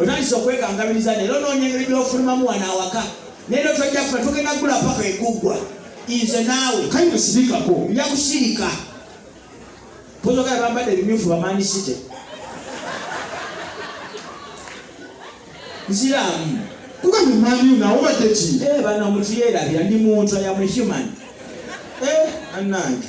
Otandise okwekangabiriza leero onoonya engeri by'ofulumamu wano awaka naye lero tojja kufa tugenda kugula paka eguggwa nze naawe kale musirikako nja kusirika pozogala bambadde ebimyufu bamanisite nziramu kuba mumani nawe obadde ki eh, bano omuntu yeerabira ndi muntu ayamuhuman eh, anange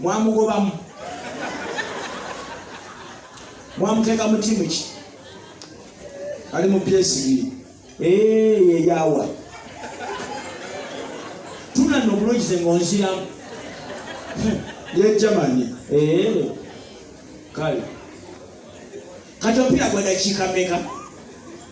mwamugobamu mwamuteeka mu timu ki ali mu psv yeyawa tunanno obulungize ngaonziramu ye germany kale kati omupiira gwa dakiika meka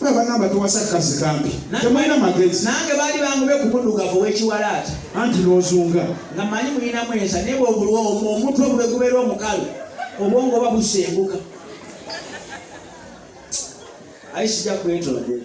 Bwe bagamba tuwasa kazi kambi. Temulina magezi. Nange baali bangube ku muddugavu w'ekiwalaata. Anti n'ozunga. Nga manyi mulinamu ensa naye bw'obulwa omutwe bwe gubeera omukalu obwongo oba busenguka. Ayi sijja kwetondera.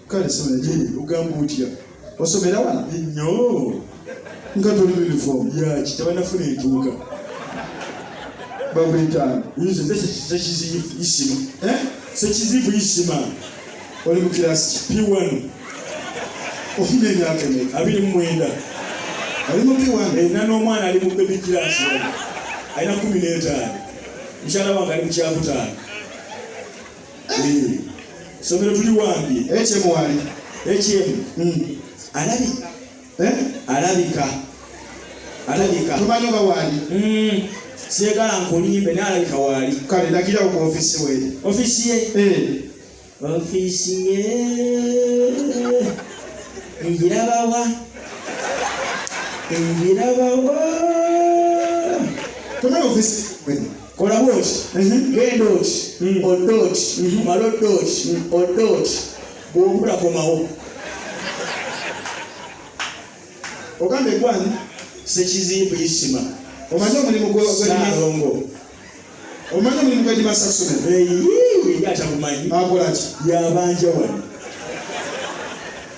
kale sinaye ogamba otya osomera wano nnyo nga toli uniform yaki tabanafuna entuuka babwetaano nze nze sekiziyifu isima eh? sekiziyifu isima oli mu kirasi p1 ofuna emyaka eme abiri mu mwenda ali mu p1 erina n'omwana ali mu bebi kirasi alina kumi n'etaano mukyala wange ali mu kyakutaano somero tuli wambi ekyemu wali ekyemu hmm. alabi eh? alabika alabika tumanyi oba wali hmm. sigala nkulimbe naye alabika wali kale ndagirawo ku ofisi we ofisi ye eh. ofisi ye ngirabawa ngirabawa tumanyi ofisi kola bwoti mhm. genda oti mhm. odde oti mhm. mala odde oti odde oti bwobula komawo ogamba egwani sekizimbu isima omanyi omulimu gwalongo omanyi omulimu gwedimasasula atagumanyi akolaki yabanja wano